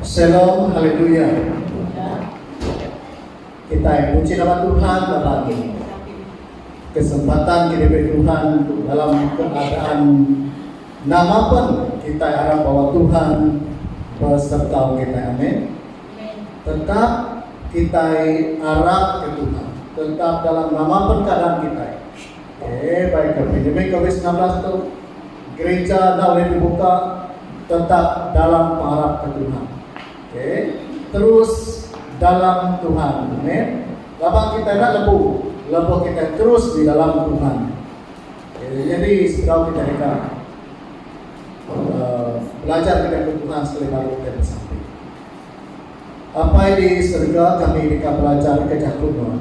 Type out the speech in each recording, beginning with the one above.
Shalom Haleluya Kitai puji nama Tuhan ba pagi ni. Kesempatan ke diberi Tuhan dalam keadaan nama pun kitai arap bahawa Tuhan beserta kitai. Amin. Tetap kitai arap ke Tuhan tetap dalam nama pun keadaan kitai. Eye bai ke pandemik covid semilan belas tu, gerija enda ulih dibuka tetap dalam pengarap ke Tuhan. Okey. Terus dalam Tuhan. Amen. Laban kitai enda lebu lebuh kitai terus di dalam Tuhan. Okey, jadi sebedau kitai deka uh, belajar kitai ke Tuhan sekali baru kitai bersama. Apai di serega kami deka belajarka Jaku Nuan.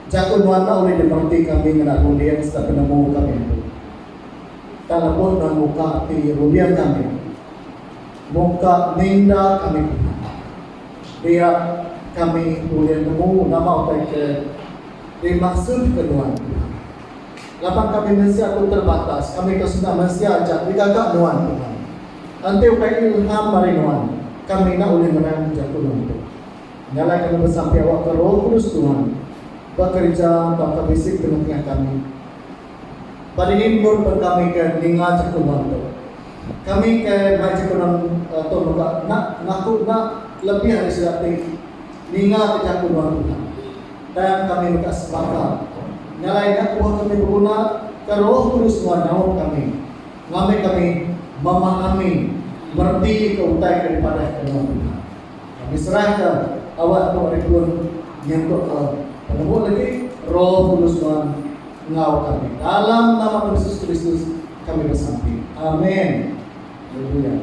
Jaku Nuan enda ulih dimereti kami ngena runding sereta penemu kami empu. Tang lebuh Nuan muka ati runding kami, muka minda kami pia, dia kami ulih nemu nama utai ke dimaksutka Nuan. Laban kami mensia tu terbatas, kami tu senda mensia aja digaga nuan Tuhan. Enti ukai ilham mari nuan, kami enda ulih nerang jaku nuan tu. Nya alai kami besampi awakka Roh Kudus Tuhan bekerja tauka bisi tengetengah kami. Badingi endur pen kami ke ninga jaku nuan tu. Kami ke mai jaku nuan tu mega enda ngaku enda lebih ari sida ti ningaka jaku nuan Tuhan. Tang kami mega sepakat ngalai nya kebuah kami beguna ke Roh Kudus nuan nyaup kami ngambi kami memahami mereti ke utai ke dipadahka nuan pina. Kami serahka awak tu ari pun nyentukka penemu legi Roh Kudus nuan enggau kami. Dalam nama Tuhan Yesus Kristus kami besampi. Amen. Haleluya.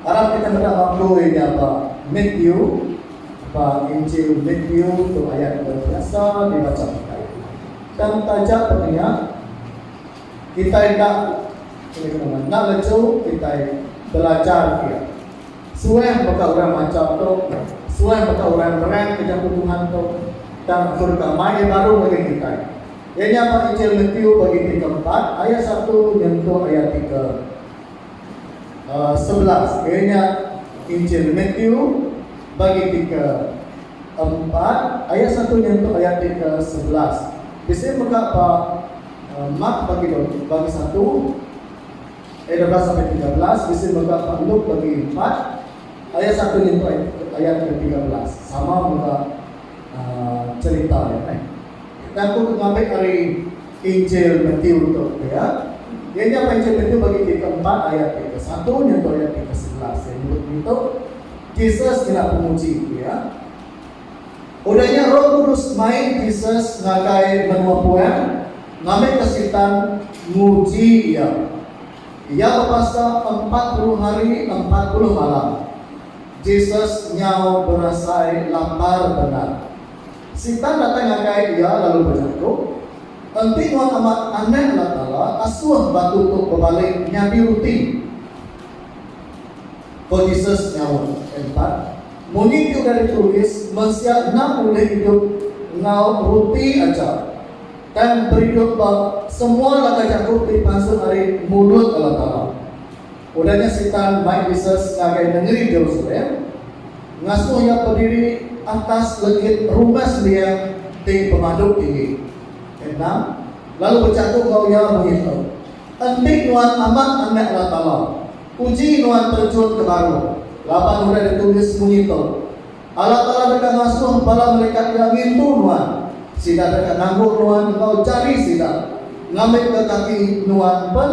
Arap kita meda bangkoi nya ba Meet You ba Injil Meet You tu ayat ke biasa dibacha kitai. Tang taja pun nya, kitai enda sulika nama enda leju kitai belajar iya. Suah baka orang macha tu, suah baka orang nerang ke jaku Tuhan tu, tang aku deka mai iya baru ngagai kitai. Iya nya ba Injil Meet You bagiti keempat ayat satu nyentuk ayat tiga. sebelas iya nya Injil Matthew bagi ti ke empat ayat satu nyentuk ayat ti ke sebelas. Bisi mega ba Mark bagi dua bagi satu ayat dua belas sampai tiga belas bisi mega ba Luke bagi empat ayat satu nyentuk ayat ke tiga belas. Sama mega cherita iya. Enda ku ngambi ari Injil Matiu tu pia. Iya nya apai Injil Matiu bagi ti keempat ayat ti kesatu nyentuk ayat ti kesebelas. Iya nyebut ngintu Jesus nyelak penguji pia. Udah nya Roh Kudus mai Jesus ngagai menua puang ngambika Sitan nguji iya. Iya bepasa empat puluh hari empat puluh malam. Jesus nyau berasai lapar bendar. Sitan datai ngagai iya lalu bejaku, Enti nuan amat Anak Allah Taala, asuh batu tu bebalik nyadi ruti. Ko Jesus nyaut, Empat, munyi ti udah ditulis, Mensia enda ulih idup enggau ruti aja, tang beridup ba semua laka jaku ti pansut ari mulut Allah Taala. Udah nya Sitan mai Jesus ngagai nengeri Jerusalem, ngasuh iya bediri atas legit rumah sembiang ti pemadu tinggi. Enda, lalu bejaku enggau iya begitu, Enti nuan amat Anak Allah Taala, uji nuan terjun ke baruh, laban udah ditulis munyi tu, Allah Taala deka ngasuh bala melikat Iya ngintu nuan. Sida deka nanggul nuan enggau jari sida, ngambika kaki nuan pen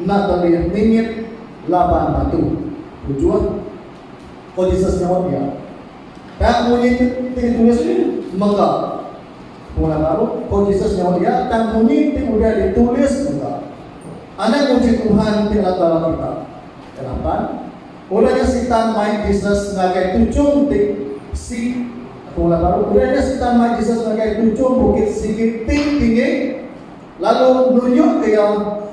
enda telih ningit laban batu. Ujuh. Ko Jesus nyaut iya. Tang munyi ti ditulis ni mega. Pengudah baru, ko Jesus nyaut iya, tang munyi ti udah ditulis mega. Anang muji Tuhan ti Allah Taala kita. Ke lapan. Udah nya Sitan mai Jesus ngagai tuchum ti si aku ulah baru udah nya Sitan mai Jesus ngagai tuchum bukit sigi ti tinggi lalu nunjuk ke iya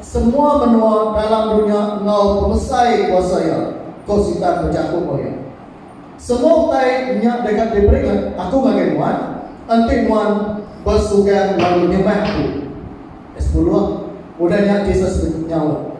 semua menua dalam dunya enggau pemesai kuasa iya, ko Sitan bejaku enggau iya. Semua utai nya deka diberi ngagai aku ngagai nuan enti nuan besugang lalu nyembah aku. Ayat sepuluh. Udah nya Jesus nyaut.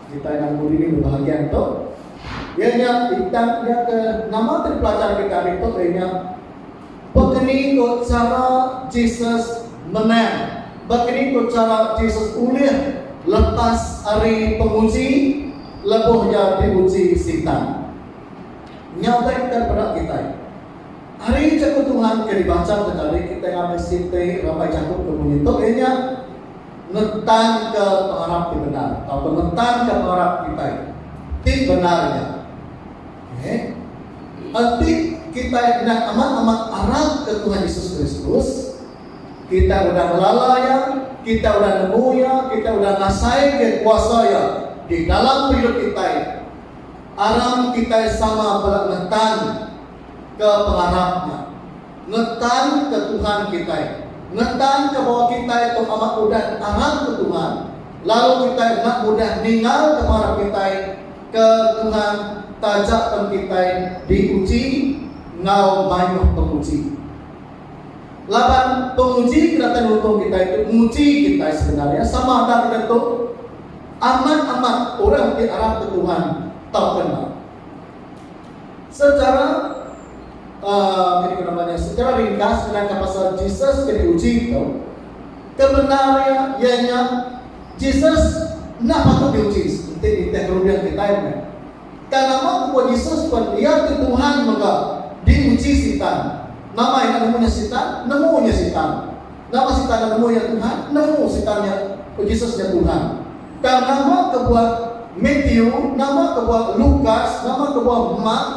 Kitai enda nemu diri ba bahagian tu. Iya nya bintang iya ke nama ti dipelajar kita hari tu iya nya Bekeni ko chara Jesus menang. Bekeni ko chara Jesus ulih lepas ari penguji lebuh iya diuji Sitan. Nya utai kita dipeda kitai. Ari Jaku Tuhan ke dibacha ke tadi kitai ngagai siti rambai jaku ke munyi tu iya nya. ngetanka pengarap ti bendar tauka ngetanka pengarap kitai ti bendar nya. Okay. Enti kitai enda amat-amat arapka Tuhan Yesus Kristus, kitai udah ngelala Iya, kitai udah nemu Iya, kitai udah ngasaika kuasa Iya di dalam pengidup kitai, aram kitai sama bela ngetanka pengarap nya. Ngetan ke Tuhan kitai. Ngetan ke bawa kitai tu amat udah angat ke Tuhan, lalu kitai enda mudah ninggal ke marap kitai ke Tuhan taja pen kitai diuji enggau mayuh penguji. Laban penguji ke datai nulung kitai tu nguji kitai sebenar iya sama enda kitai tu amat amat orang ti arap ke Tuhan tauka enda. Secara uh, secara ringkas nerangka pasal Jesus ke diuji tu, kebendar dia ianya Jesus enda patut diuji seperti nitih kerudung kita ini. Kan nama kebuah Jesus pun dia ke Tuhan mega diuji Sitan. Nama enda nemu nya Sitan? Nemu nya Sitan. Nama sitan enda nemu iya Tuhan? Nemu sitan nya Jesus nya Tuhan. Tang nama kebuah Matthew, nama kebuah Lukas, nama kebuah Mark,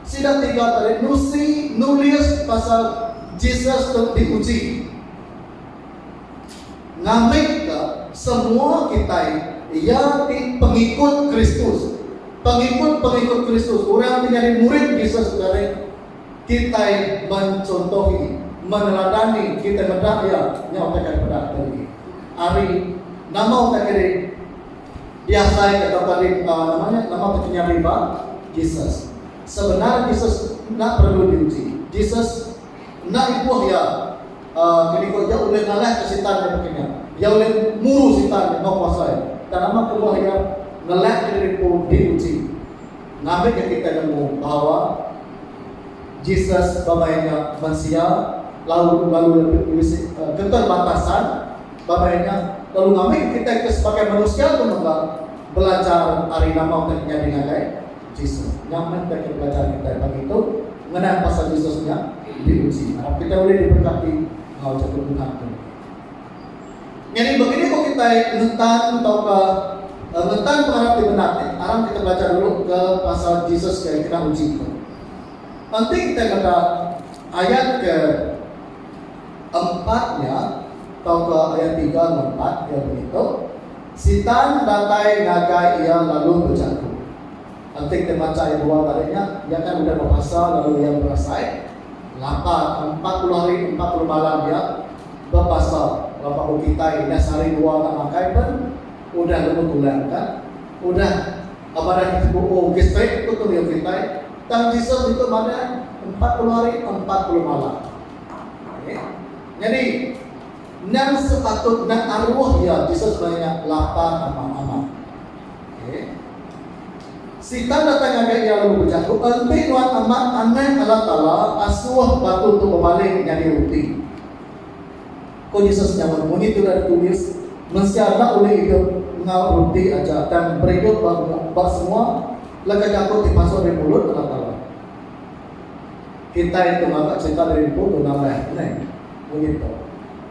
sida tiga tadi nusi nulis pasal Jesus tu diuji. Ngambika semua kitai iya ti pengikut Kristus. Pengikut-pengikut Kristus, orang ti nyadi murid Jesus tu ngagai. Kitai mencontohi, meneladani kitai meda iya nya utai ke dipeda kitai negi. Ari nama utai ke di diasaika atau ke di uh, nama nya nama ke nyadi ba Jesus. Sebenar Jesus enda perlu diuji. Jesus enda ibuh iya uh, ke diku iya ulih ngalahka Sitan nya baka nya. Iya ulih muru Sitan nya enggau kuasa iya. Tang nama kebuah iya ngelakka diri empu diuji. Ngambi ke kitai nemu bahawa Jesus bamai nya mensia lalu lalu iya tu bisi keterbatasan, bamai nya lalu ngambi ke kitai ke sebagai mensia tu mega belajar ari nama ke nyadi ngagai Jesus. Nya meh tang ke pelajaran kitai pagi tu ngenang pasal Jesus nya diuji. Arap kitai ulih diberkati enggau jaku Tuhan tu. Nyadi begini ko kitai ngetan tauka ngetan pengarap ti bendar ti aram kita belajar dulu ke pasal Jesus ke kena uji tu. Enti kitai meda ayat ke empat nya tauka ayat tiga enggau empat iya begitu Sitan datai ngagai iya lalu bejaku. Enti kita macha ayat dua tadi nya iya kan udah bepasa lalu iya berasai Laba ke empat puluh hari ke empat puluh malam iya bebasa laban ku kitai dah sehari dua enda makai pen udah lemu tulang ka udah badan kita buuh gestrik ku tu riu kitai tang Jesus ditu madah empat puluh hari empat puluh malam okay. nyadi nang sepatut nang aruh iya Jesus maya nya lapa amat-amat Sitan datai ngagai iya lalu bejaku, Enti Nuan Amat Anak Allah Taala, asuh batu tu bebalik nyadi ruti. Ko Jesus nyaut, Munyi tudah ditulis, Mensia enda ulih idup enggau ruti aja, tang beridup ba ba semua leka jaku ti masuk ari mulut Allah Taala. Kitai tu ngaga cerita diri empu tuna meh. Neh munyi tu.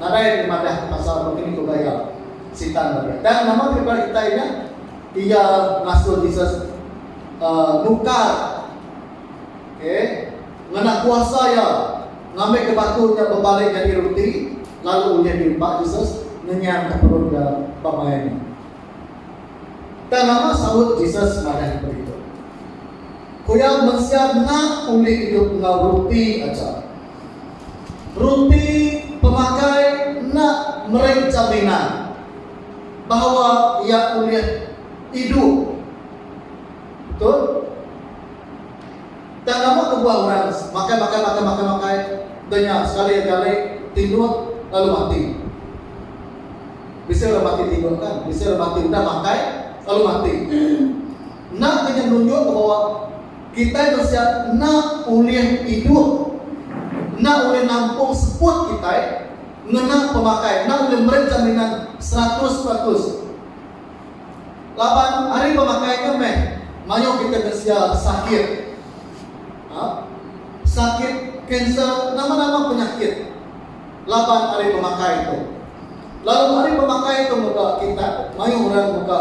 Nadai ke madah pasal Bengkeni ke Gaya Sitan tadi. Tang nama ti peda kitai nya? Iya rasul Jesus nukar okay, ngena kuasa iya ngambika batu nya bebalik nyadi roti lalu ulih diempa Jesus ngenyangka perut iya pemaya nya. Tang nama saut Jesus madah nyebut ditu? Ku iya mensia enda ulih idup enggau roti aja. Ruti pemakai enda meri jaminan bahawa iya ulih idup betul. Tang nama kebuah orang makai makai makai makai makai dah nya sekali agi ari tinduk lalu mati. Bisi orang mati tinduk kan, bisi orang mati udah makai lalu mati. Enda ke nya nunjuk ke bawa kitai mensia enda ulih idup, enda ulih nampung seput kitai ngena pemakai, enda ulih meri jaminan seratus peratus. Laban ari pemakai nya meh mayuh kitai mensia sakit. Sakit kanser, nama-nama penyakit. laban ari pemakai tu. Lalu ari pemakai tu mega kita mayuh orang mega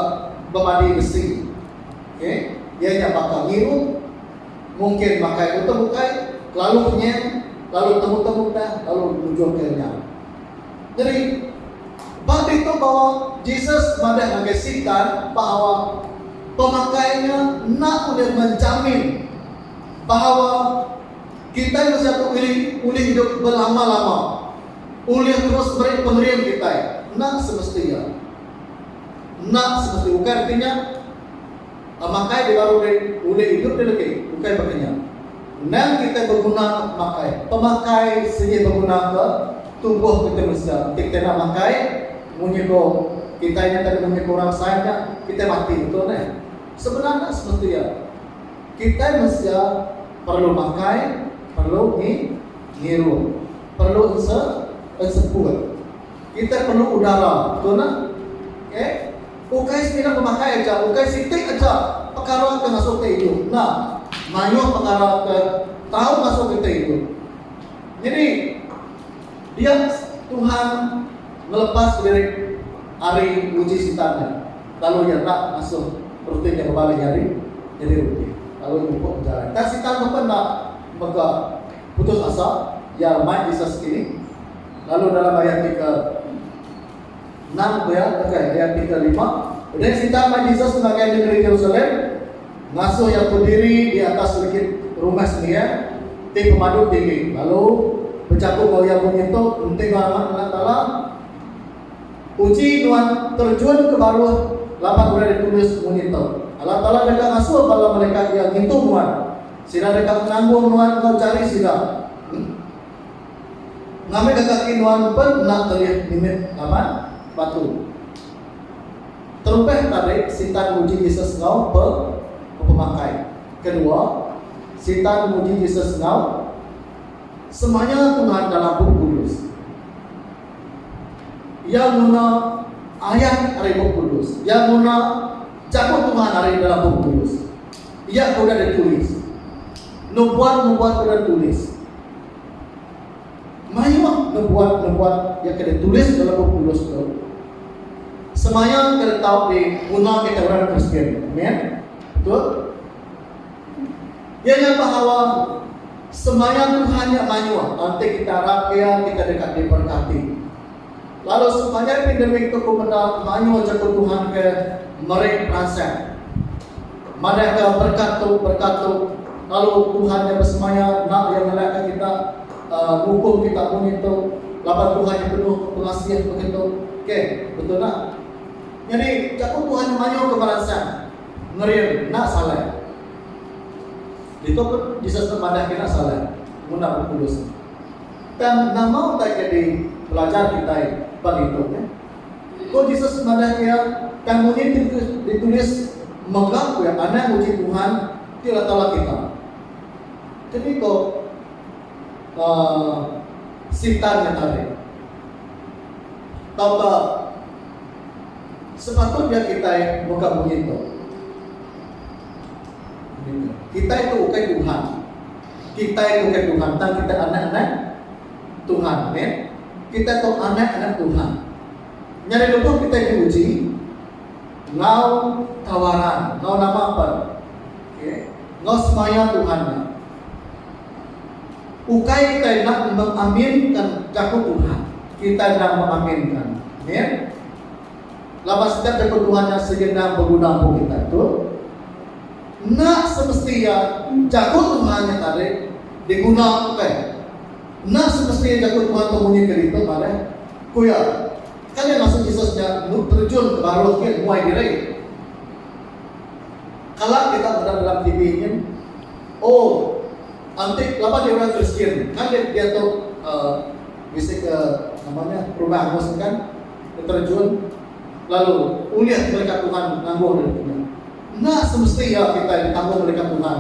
bemadi besi. Okey, iya nya baka ngiru, mungkin makai utuh ukai, kelalu penyeng, lalu temu-temu udah lalu mujur ke nya. Nyeri ba ditu bawa Jesus madah ngagai Sitan bahawa pemakai nya enda ulih menjamin bahawa Kitai mensia tu meri ulih idup belama-lama, ulih terus meri pengering kitai enda semesti iya. Enda semesti ukai reti nya, pemakai ti baru deh ulih idup deh legi, ukai baka nya. Endang kitai beguna ka pemakai, pemakai sigi beguna ka tubuh kitai mensia. Enti kitai enda makai, munyi ko kitai nya tadi munyi ko orang sai nya, kitai mati betul neh. Sebenar enda semesti iya. Kitai mensia perlu makai, perlu ngi ngirup, perlu ense enseput. Kitai perlu udara, betul neh? Okey. Ukai semina pemakai aja, ukai siti aja pekara ke ngasuh kitai idup. Enda. Mayuh pekara ke tau ngasuh kitai idup. Nyadi, dia Tuhan ngelepas diri ari uji Sitan nya. Lalu iya enda ngasuh ruti nya bebalih nyadi nyadi ruti, lalu iya mupuk bejalai. Tang Sitan tu pun enda mega putus asa, iya remai Jesus sekini. Lalu dalam ayat ti ke enam pia, okay, ayat ti ke lima, Udah Sitan mai Jesus ngagai nengeri Jerusalem, ngasuh iya bediri di atas serikit rumah sembiang ti pemadu tinggi, lalu bejaku enggau iya munyi tu, Enti enggau Anak Allah Taala, Uji nuan terjun ke baruh laban udah ditulis munyi ento, Allah Taala deka ngasuh bala melekat Iya ngintu nuan. Sida deka nanggung nuan enggau jari sida. Ngambika kaki nuan pen enda telih mimit laban batu. Terubah tadi, Sitan nguji Jesus enggau pe pemakai. Kedua, Sitan nguji Jesus enggau semaya Tuhan dalam Bup Kudus. Iya guna ayat ari Bup Kudus. Iya guna Jaku Tuhan ari dalam Bup Kudus. Iya ke udah ditulis. Nubuat-nubuat udah ditulis. Mayuh nubuat-nubuat yang ke ditulis dalam Bup Kudus tu semaya kita tahu di guna kita orang Kristian. Amen. Betul? Iya nya bahawa semaya Tuhan nya mayuh enti kita arap Iya kita deka diberkati. Lalu sepanjai pandemik tu ku meda mayuh jaku Tuhan ke meri peransang. Madahka berkat tu berkat tu lalu Tuhan nya besemaya enda iya ngelakka kita uh, ngukum kita munyi tu laban Tuhan nya penuh pengasih begitu. Okey, betul tak? Jadi jaku Tuhan mayuh ke meransang. Ngerin enda salai. Ditu pun Jesus nemadahka enda salai nguna Bup Kudus tu. Tang nama utai ke dipelajar kitai ba ngitu nya? Ko Jesus madahka iya, Tang munyi ti ditulis mega ku iya, Anang nguji Tuhan, ti Allah Taala kita. Keni ko uh, Sitan nya tadi? Tauka. Sepatutnya kitai mega munyi tu. Kitai tu ukai Tuhan. Kitai tu ukai Tuhan. Tang kitai anak-anak Tuhan. Amin. Kitai tu anak-anak Tuhan. Nyari lebuh kitai diuji, ngau tawaran, ngau nama pun. Okay. Ngau semaya Tuhan. Ukai kita enda mengaminka jaku Tuhan, kita enda mengaminka. Amin. Laban setiap jaku Tuhan nya segena beguna empu kita. Betul? Enda semesti ya jaku Tuhan nya tadi diguna ukai. Enda semesti ya jaku Tuhan tu munyi ke ditu malah. Ku ya, kan ya masuk Jesus nya nu terjun ke baruh ke muai diri. Kala kita meda dalam TV nyin, Oh enti laban nya orang Kristian ngambi diatu bisi ke nama nya perubah angus nya kan beterejun lalu ulih melikat Tuhan nangguh diri kinya. Enda semesti iya kitai ditangguh melikat Tuhan.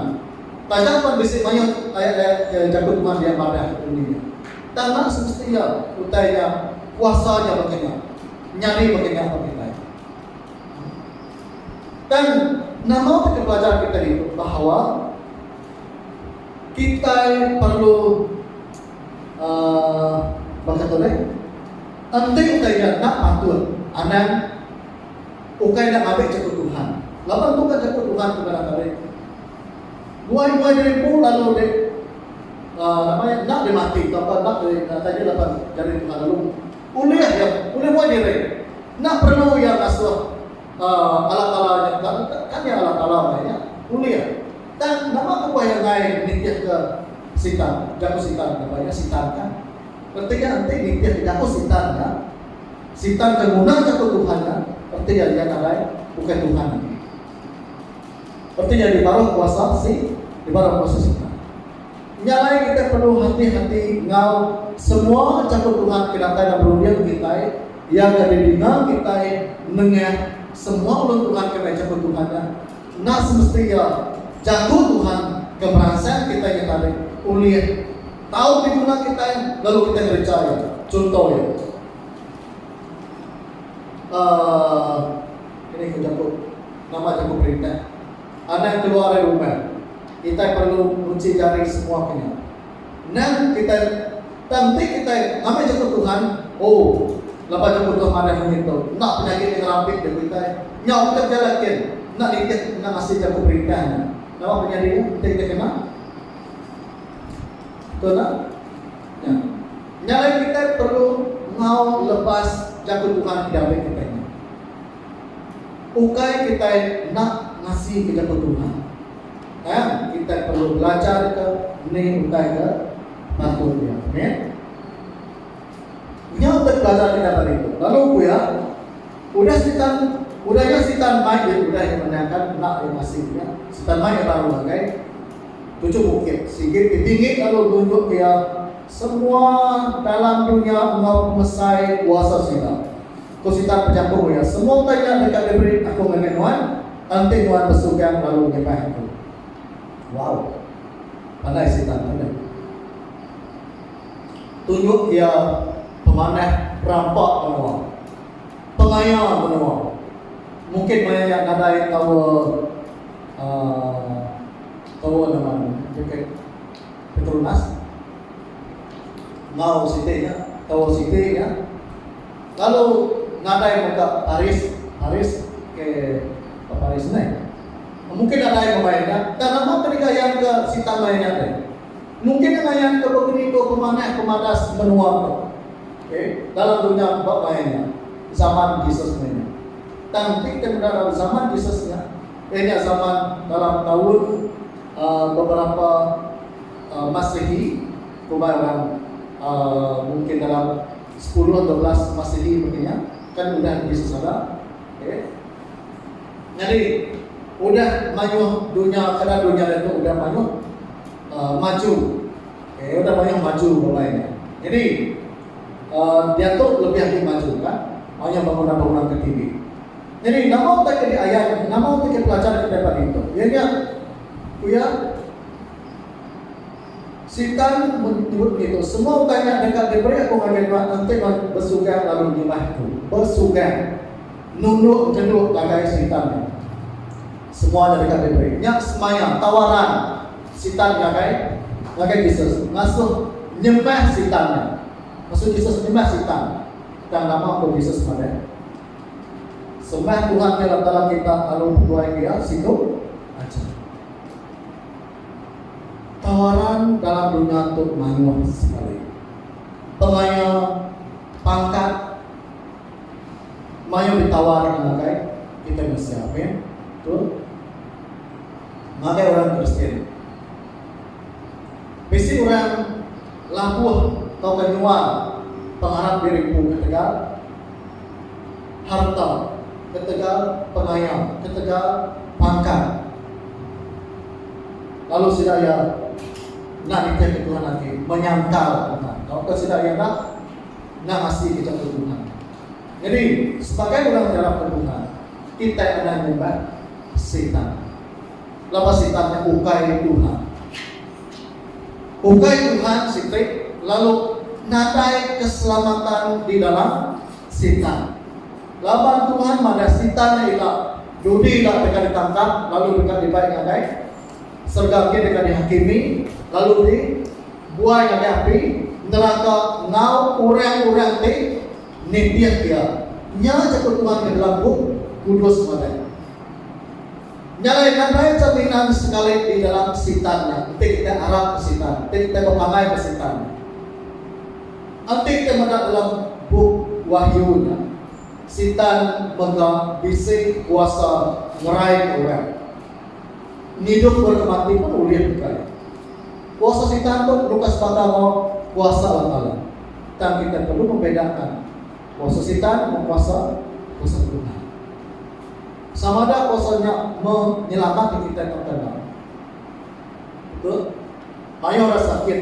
Taja pan bisi mayuh ayat-ayat ke jaku Tuhan dia madah ke undi nya. Tang enda semesti iya utai nya kuasa nya baka nya nyadi baka nya ba kitai. Tang nama ti dipelajar kitai ditu bahawa kitai perlu uhh baka tu deh enti utai nya enda patut anang ukai enda mabe jaku Tuhan laban tu kan jaku Tuhan tu ngaran ade buai-buai diri empu lalu deh uhh nama nya enda dimatik tauka enda deh utai nya laban jaku Tuhan lalu. Ulih iya ulih muai diri. Enda perlu iya ngasuh Allah Taala nya tang kan iya Allah Taala meh nya. Ulih. Tang nama ku bah iya enggai nitihka Sitan, jaku Sitan nya bah iya Sitan nya. Reti iya enti nitihka jaku Sitan nya, Sitan ke ngunah jaku Tuhan nya, reti iya iya nadai bukai Tuhan agi. Reti iya dibaruh kuasa si dibaruh kuasa Sitan. Nya alai kitai perlu hati-hati enggau semua chakut Tuhan ke datai ba berunding kitai, Iya ke didinga kitai nengah semua ulun Tuhan ke mai chakut Tuhan nya. Enda semesti iya, Jaku Tuhan, ke meransang kitai nya tadi ulih tau diguna kitai lalu kitai ngereja iya. Chunto iya, aaa, ini ke jaku, nama jaku perintah. Anak keluar ari rumah, kitai perlu nguci jari semua ke nya. Endang kitai tang ti kitai ngambi nyebut Tuhan, oh laban nyebut Tuhan madah munyi tu, enda penyakit ti ngerampit jaku kitai. Nyau kitai bejalai kin, enda nitih enda ngasi jaku perintah nya. Nama penyadi nya enti kitai kena? Tuna nya. Nya alai kitai perlu ngaul lepas jaku Tuhan ke diambi kitai nya. Ukai kitai enda ngasika jaku Tuhan, kan kitai perlu belajarka ni ukai ke patut dia. Amen. Nya utai pelajar kitai pagi tu. Lalu ku iya, udah Sitan udah nya Sitan mai dia udah iya menangkan enda dia ngasika dia. Sitan mai iya baru ngagai tujuh bukit. Sigi ti tinggi lalu nunjuk dia semua dalam dunya enggau pemesai kuasa sida. Ku Sitar pejaku iya, Semua utai nya deka diberi aku ngagai nuan, enti nuan besugang lalu nyembah aku. Wow! Pandai Sitar tu deh. Tunjuk iya pemanah rampa menua. Pengaya menua. Mungkin maya nya nadai tau uh, tau nama ni, Petronas. Mau siti nya, tau siti nya. Lalu nadai mega paris paris ke peparis meh. Mungkin nadai bebai nya, tang nama ke digayan ke si talai nya deh. Mungkin ne ngayan ke begeni dua pemanah pemadas menua tu. Okey, dalam dunya bebai nya, zaman Jesus meh nya. Tang ti ke meda dalam zaman Jesus nya, iya nya zaman dalam taun aaa beberapa aaa masehi, kumbai orang aaa mungkin dalam. Sepuluh atau belas Masihi mega nya kan udah nyadi sesada. Okey. Nyadi udah mayuh dunya kada dunya ditu udah mayuh Uh, maju okay, udah banyak maju bermain jadi uh, dia tu lebih lagi maju kan banyak bangunan-bangunan ke tinggi jadi nama tak jadi ayat nama tak jadi pelajar kita dapat itu ya ya kuya Sitan mun tebut ngitu, semua utai nya deka diberi aku ngagai nuan enti nuan besugang lalu nyembah Aku. Besugang. Nunduk ngenduk ngagai Sitan nya. Semua nya deka diberi. Nya semaya, tawaran, Sitan ngagai ngagai Jesus. Ngasuh nyembah Sitan nya. Maksud Jesus nyembah Sitan. Tang nama ko Jesus madah. Sembah Tuhan ti Allah Taala kita lalu betuai Iya siku aja. Tawaran dalam dunya tu mayuh sekali. Pengaya pangkat mayuh ditawar ngagai kitai mensia. Amen. Betul? Ngagai orang Kristian. Bisi orang labuh tauka nyual pengarap diri empu ketegal. harta ketegal pengaya ketegal pangkat lalu sida iya enda nitihka Tuhan agi menyangkal Tuhan tauka sida iya enda enda ngasika jaku Tuhan. Nyadi sebagai orang ti arapka Tuhan kitai anang nyembah Satan. Laban Satan nya ukai Tuhan. Ukai Tuhan siti lalu nadai keselamatan di dalam Sitan. Laban Tuhan madah Sitan nya ila, Judi ila deka ditangkap lalu deka dibai ngagai serega gin deka dihakimi lalu di buai ngagai api neraka enggau orang-orang ti nitih iya. Nya jaku Tuhan ke dalam Bup Kudus madah. Nya alai nadai jaminan sekali di dalam Sitan nya enti kitai arap ke Sitan, enti kitai bepangai ke Sitan. Ati ke meda dalam bup Wahyu nya, Sitan mega bisi kuasa ngeraika orang ngidup ba tempat ti pan ulih mega iya. Kuasa Sitan tu nyuka sebaka enggau kuasa Allah Taala. Tang kitai perlu ngembedakan kuasa Sitan enggau kuasa kuasa Tuhan. Sama ada kuasa nya menyelamat kitai tauka enda. Betul? Mayuh orang sakit.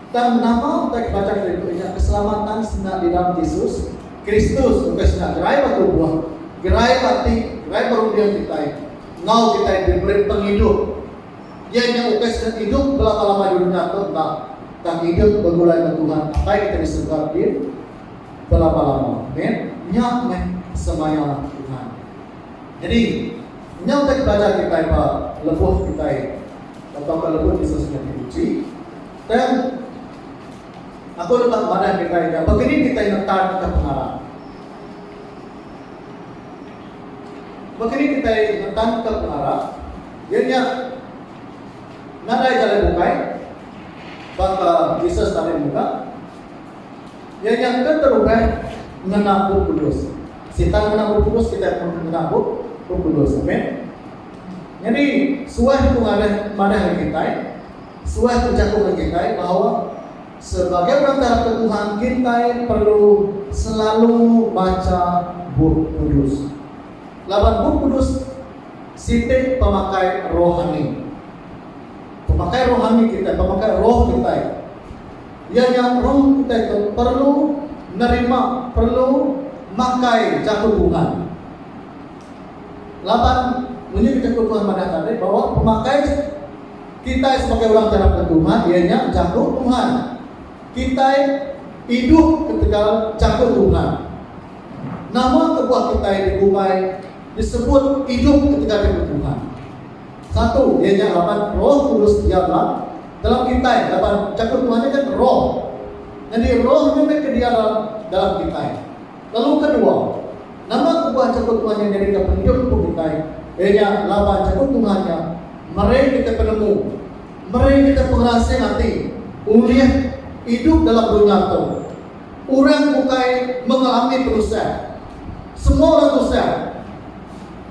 Tang nama utai kebaca kerindu nya keselamatan senda di dalam Jesus Kristus ukai senda gerai ba tubuh, gerai ba ati, gerai ba runding kitai enggau kitai diberi pengidup. Iya nya ukai senda idup belama-lama di dunya tu enda, tang idup begulai enggau Tuhan Apai kitai di serega ti belama-lama. Amen. Nya meh semaya Tuhan. Nyadi, nyau utai pelajar kitai ba lebuh kitai tauka lebuh Jesus nyadi uji, tang Aku deka madah kitai nya baka ni kitai ngetarka pengarap. Baka ni kitai ngetarka pengarap? Iya nya nadai jalai bukai baka Jesus tadi mega. Iya nya ke terubah ngena Bup Kudus. Sitan ngena Bup Kudus, kitai pun ngena Bup Bup Kudus. Amen. Nyadi suah tu ngadah madah ngan kitai, suah tu jaku ngan kitai bahawa sebagai orang ke arapka Tuhan, kitai perlu selalu baca Bup Kudus. Laban Bup Kudus siti pemakai rohani. Pemakai rohani kitai, pemakai roh kitai. Iya nya rong utai ke perlu nerima perlu makai jaku Tuhan. Laban munyi ke jaku Tuhan madah tadi bahwa pemakai kitai sebagai orang ke rapka Tuhan iya nya jaku Tuhan. Kitai idup ketegal jaku Tuhan. Nama kebuah kitai digumbai disebut idup ketegal jaku Tuhan? Satu, iya nya laban Roh Kudus diam ba dalam kitai laban jaku Tuhan nya kan Roh. Nyadi Roh nya meh ke diam ba dalam kitai. Lalu kedua, nama kebuah jaku Tuhan nya nyadika pengidup empu kitai? Iya nya laban jaku Tuhan nya meri kitai penemu, meri kitai pengerasing ati ulih idup dalam dunya tu. Orang bukai mengalami penusah. Semua orang tusah.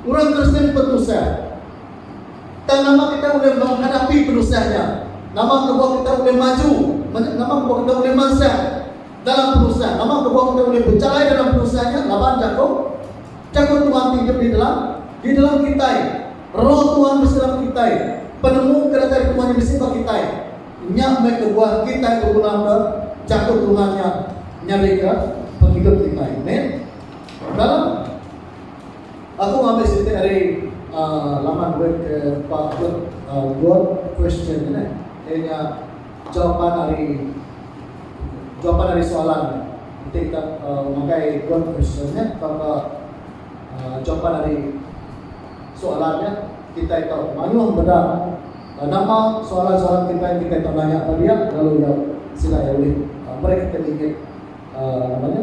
Orang Kristian betusah. Tang nama kita ulih menghadapi penusah nya? Nama kebuah kita ulih maju? Nama kebuah kita ulih mansa dalam penusah? Nama kebuah kita ulih berjalai dalam penusah nya? Laban jaku, jaku Tuhan ti hidup di dalam, di dalam kita. Roh Tuhan besi dalam kita. Penemu ke datai Tuhan nya besi bagi kita. Nya mai kebuah kita berguna ke jaku Tuhan nya nyadi ke penghidup kita. Amen. Dalam Aku ngambi siti ari laman web ke ba blog God Question tu neh iya nya jawapan ari jawapan ari soalan tu. Enti kita makai God Question nya tauka jawapan ari soalan nya kitai tau mayuh meda nama soalan-soalan kitai ti kitai tau nanya ba dia lalu iya sida iya ulih meri kita ningit nama nya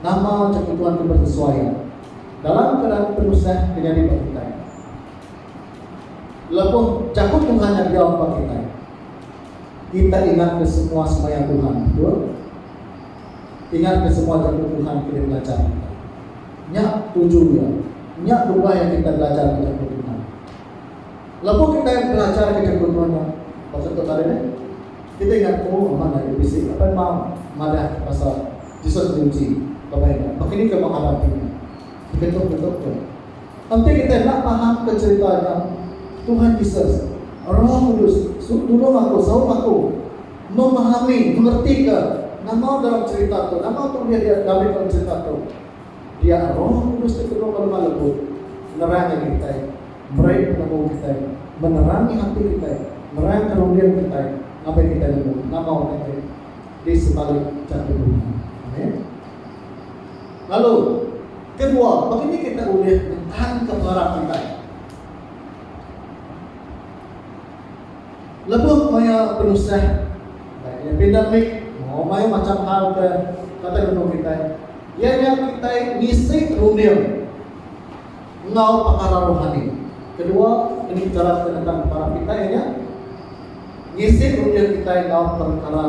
Nama chak ituan ke besesuai dalam keadaan penusah ke nyadi ba kitai? Lebuh jaku Tuhan nya diau ba kitai, kitai ingatka semua semaya Tuhan, betul? Ingatka semua jaku Tuhan ke dibelajar kitai. Nya tuju iya. Nya dua iya kitai belajarka jaku Tuhan. Lebuh kitai belajar ke jaku Tuhan nya pasal tu tadi meh, kitai ingat ko amat agi bisi apai emau madah ke pasal Jesus ngunci pemai nya. Baka ni ke meh adat ti nya diketuk-ketuk tu? Enti kitai enda paham ke cherita nya, Tuhan Jesus, Roh Kudus, su nulung aku, saup aku memahami, mengerti ke nama dalam cherita tu, nama tu ulih dia dame dalam cherita tu. Dia Roh Kudus ti penuh pengemah lebuh nerang agi kitai. Meri penemu kitai, menerangi ati kitai, nerangka runding kitai ngapai kitai nemu nama utai diri di sebalik jaku dunya. Amin. Lalu, kedua, baka ni kitai ulih ngetanka pengarap kitai? Lebuh maya penusah, baik iya pandemik enggau mayuh macham hal ke kata nemu kitai, iya nya kitai ngisi runding. enggau pekara rohani. Kedua, meri pekara senentang pekara kitai iya nya ngisi utir kitai enggau pekara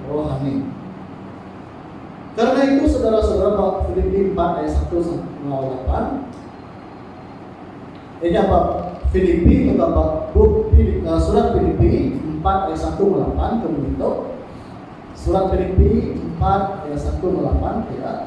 rohani. Kerna itu, saudara-saudara, ba Filipi empat ayat satu enggau lapan, iya nya ba Filipi enggau ba bup eh, surat Filipi empat ayat satu enggau lapan ke menyentuk, surat Filipi empat ayat satu enggau lapan, kira,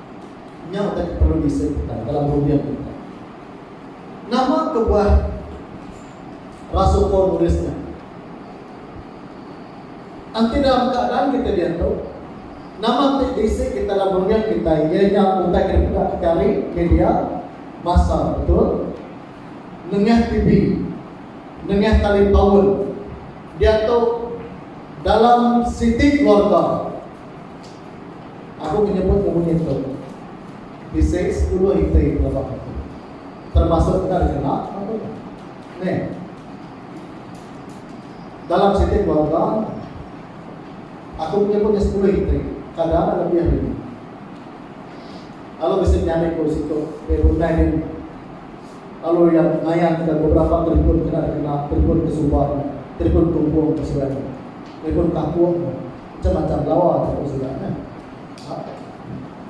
Nya utai ke perlu diseduka dalam runding tu. Nama kebuah rasul Paul nulis nya? Enti dalam keadaan kita diatu, nama ti diisi kita dalam runding kita iya nya utai ke dipeda kita ari media masa betul, nengah TV, nengah talipaun, diatu dalam siti keluarga. Aku menyebut ke munyi tu bisi sepuluh iti pelebah aku, termasuk enda dikena aku. Meh dalam siti keluarga nya. Aku menyebut nya sepuluh iti, kada enda lebih ari nya. Lalu bisi menyambi ku situ di rumah dini. Lalu iya ngayan ke beberapa telefon kena dikena, telefon ke suba nya, telefon tumpung ke suba nya, telefon kampung nya. Macam macam lawa tu aku sida nya. Ha?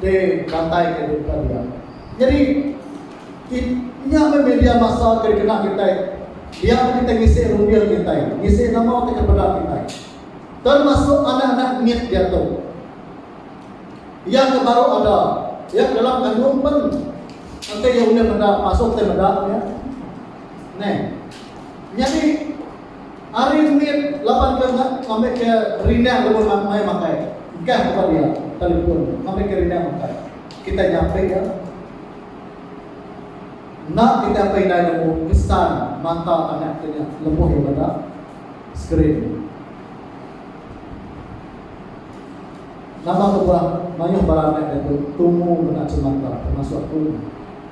Di rantai ke di depan dia. Jadi nya me media masa ke dikena kita. Dia ke kita ngisi rumbia kita, ngisi nama kita kepada kita. Termasuk anak-anak mit dia tu. Ia ke baru ada, ia ke dalam kandung pun Nanti dia boleh meda, masuk ke meda. Ya. Nah, jadi Ari mit laban ke enda ngambika rindang lebuh nan mai makai, gah tempat dia, telefon, ngambika rindang makai. Kitai nyampik iya. Enda kitai apai indai nemu pesan mata anak kitai nya lebuh iya meda skrin. Nama kebuah mayuh bala anak diatu tumu meda semata termasuk aku,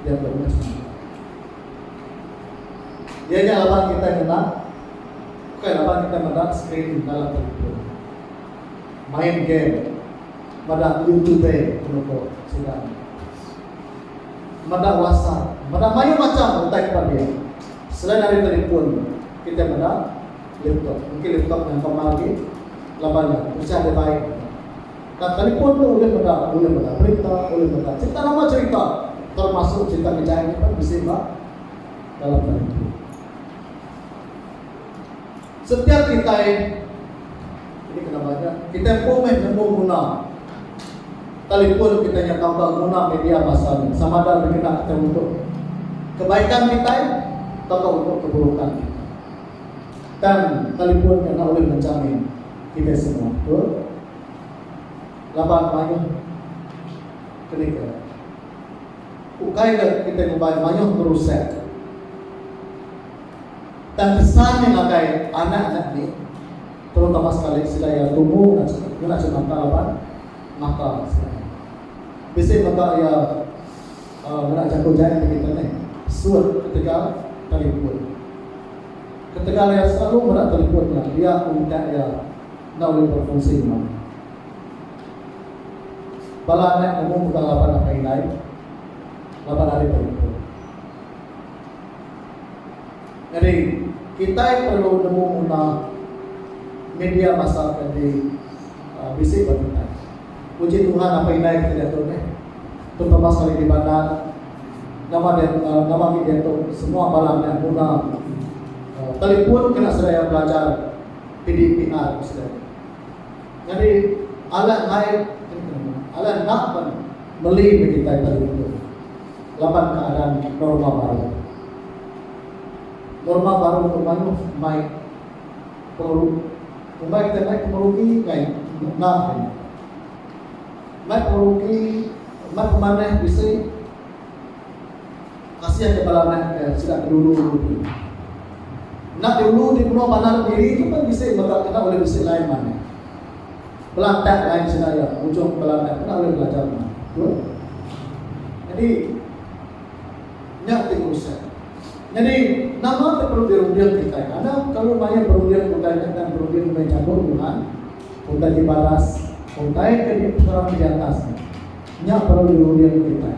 iya ke meda semata. Iya nya laban kitai ngena ukai laban kitai meda skrin dalam telefon, main game, meda youtube lalu ko sida nya. Meda whatsapp, meda mayuh macham utai ke pagi. Selain ari telefon, kitai meda laptop. Engki laptop nya empa mah agi laban nya pecah dibai. Ka telefon tu ulih meda, ulih meda berita, ulih meda cerita nama cerita termasuk cerita ngejai nya pun bisi ba dalam telefon. Setiap kitai, ini kena banyak, kitai empu meh nemu guna telefon kitai nya tauka guna media masa nya sama ada dikena kitai untuk kebaikan kitai tauka untuk keburukan kitai. Tang telefon nya enda ulih menjamin kitai semua, betul? laban mayuh ke nega. Ukai ke kitai ngubai mayuh berusek. Tang kesan nya ngagai anak nya enti terutama sekali sida iya tumu ngena chemata laban mata sida iya. Bisi mega iya aaa ngena jaku jai ti kitai nih, sut ketegal telefon. Ketegal iya selalu meda telefon nya dia untak iya. Enda ulih berfungsi mega. Bala anak ke umur mega laban apai indai laban ari penempur. Nyadi, kitai perlu nemu nguna media masa ke di bisi ba kitai. Puji Tuhan apai indai kitai diatu meh, terutama sekali di bandar. Nama dia nama agi diatu semua bala anak nguna telefon kena seraya belajar. PDPR ku sida nya. Nyadi alah naip alah enda pan meli meh kitai pagi nengah laban keadaan norma baru. Norma baru tu mayuh mai pengumbai kitai mai pengerugi ngai enda hari nya. Mai pengerugi mai pemanah bisi. Kasih ke bala anak ke sida ke dulu ulu ti. Enda dulu ti penua bandar kediri tu pun bisi mega kena ulih bisi line man. Belantak line sida iya ujung bala anak enda ulih belajar man. Betul? Jadi nya ti konsep. Jadi nama ti perlu dirunding kitai? Ada kalu mayuh perunding utai nya dan perunding ulih jaku Tuhan, utai ti baras, utai ke dipenerang di atas. Nya perlu dirunding kitai.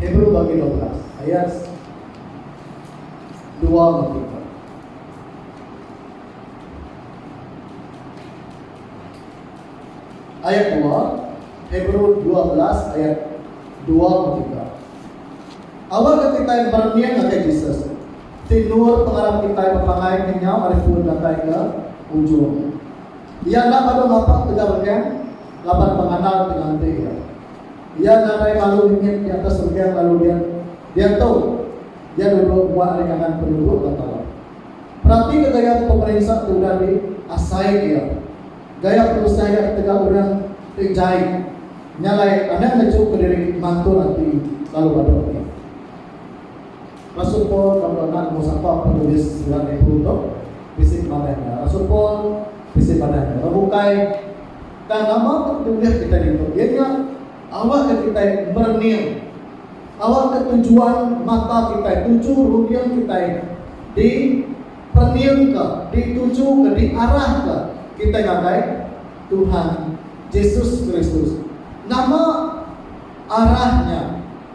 Hebrew bagi dua belas ayat dua enggau tiga. Ayat dua, Hebrew dua belas ayat dua enggau tiga. Awal ke kitai berening ngagai Jesus, ti endur pengarap kitai bepangai kenyau ari pun datai ke ujung. Iya enda padu ngapa ketegal rening. laban penganal ti nganti iya. Iya ngarai lalu ningit di atas renggang lalu diat diatu iya duduk muak ari kanan penuduk ba tala. Peratika gaya pemerinsa ti udah di asai iya. Gaya penusah iya ketegal orang ti jai nya alai anang ngejuka diri mantul ati lalu badu ati. Rasul Paul lalu anak nombor sapa penulis Surat Hebrew tu bisi pemanah nya? Rasul Paul bisi manah nya lalu bukai. Tang nama ke tugas kitai ditu iya nya awakka kitai merening awakka tujuan mata kitai tuju runding kitai di pereningka ditujuka diarahka kitai ngagai Tuhan Jesus Kristus. Nama arah nya?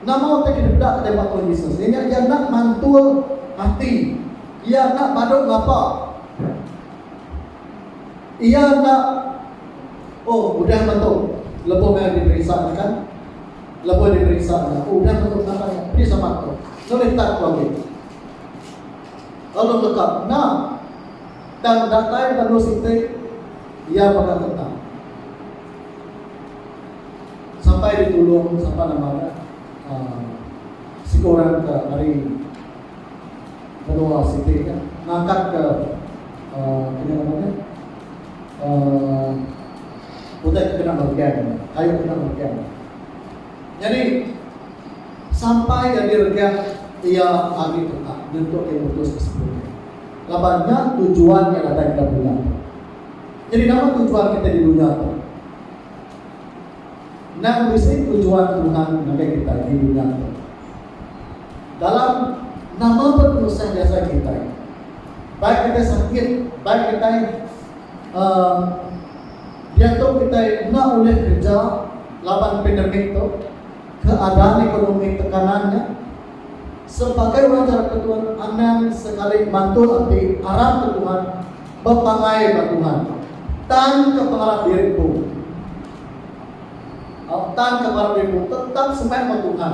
Nama utai ke deda kitai ba Tuhan Jesus? Iya nya iya enda mantul ati. Iya enda badu ngapa. Iya enda Oh, udah meh tu. Lebuh meh diperisa nya kan. Lebuh diperisa nya, oh udah meh tu pendapat iya. Pedis amat tu. Nulih tak ku agi. Lalu leka, enda. Tang datai panu siti, iya mega tetap. Sampai ditulung sapa nama nya, aaa, siko orang ke ari Menua siti nya ngangkat ke kini nama nya uhh utai ke kena regang kayu ke kena regang. Nyadi sampai jadi regang iya agi tetap nyentuk iya mutus ke situ nya. Laban nya tujuan iya datai ke dunya tu. Nyadi nama tujuan kitai di dunya tu? Endang bisi tujuan Tuhan ngagai kitai di dunya tu. Dalam nama penusah jasa kitai, baik kitai sakit, baik kitai uh, diatu kitai enda ulih kerja laban pandemik tu, keadaan ekonomi tekanan nya, sebagai orang jara ke Tuhan, anang sekali mantul ati arap ke Tuhan, bepangai ba Tuhan. Tan ke pengarap diri empu. Au tan ke pengarap diri empu tetap semai ba Tuhan.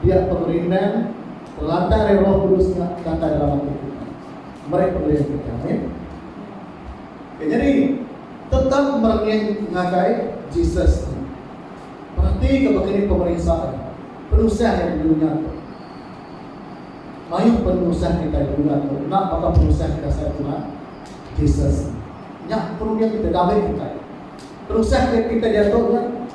Pia pemerindang teladan ari Roh Kudus nya datai dalam ati kitai. Meri pengeling kitai. Amin. Okay, jadi tetap merenung ngagai Jesus ni. Peratika baka ni pemerisa dia. Penusah yang di dunia tu. Mayuh penusah kita di dunia tu. Nak baka penusah kita saya Tuhan. Jesus. Nyak perlu kita damai kita. Penusah kita jatuh kan.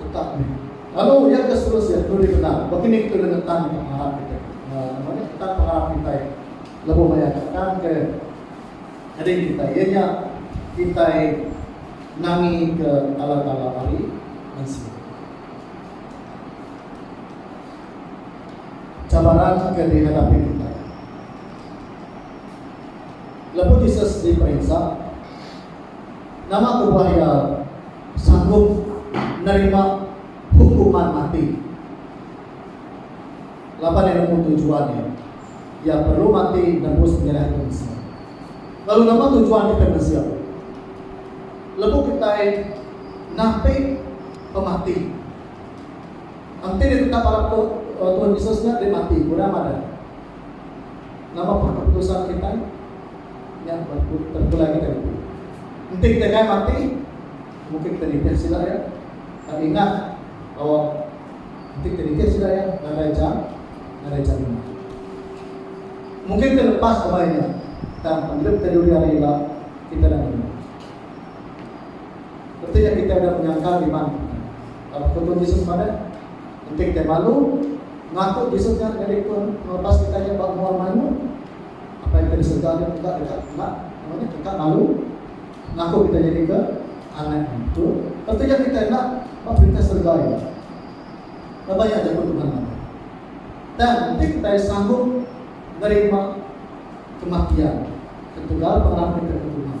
Utak nya. Lalu ujar ke seterusnya, duli benar. Baka ni kita ulih ngetan pengarap kita. Uh, nama ni? Ngetan pengarap kita. Lebu maya katakan ke ading kita. Ia nya kita nangi ke tala-tala hari mensia. Cabaran ke dihadapi kita. Lebu Jesus diperiksa, Nama ku buah iya sanggup nerima hukuman mati? Laban iya nemu tujuan iya, iya perlu mati nebus penyerah mensia. Lalu nama tujuan kitai mensia? Lebuh kitai napi pemati, enti ditetak bala Tuhan Yesus nya deh mati, kurang madah. Nama pun keputusan kitai nya terpulai ngagai ditu. Enti kitai kai mati, mungkin kitai nitih sida iya. Tang ingat bahawa enti kitai nitih sida iya, nadai ja, nadai jaminan. Mungkin kitai lepas kemaya nya, tang pengidup kitai dudi hari ila, kitai enda nemu. Reti nya kitai udah menyangkal iman kitai. Lalu Pengetu Jesus madah. Enti kitai malu ngaku Jesus nya nyadi Penebas kitai nya ba mua mayuh, Apai kitai di serega nya mega deka enda nama nya deka malu ngaku kitai nyadika anak Nya. Tu reti iya kitai enda ba Perintah serega Iya. Laban nya jaku Tuhan madah, Tang enti kitai sanggup nerima kematian ketegal pengarap kitai ke Tuhan,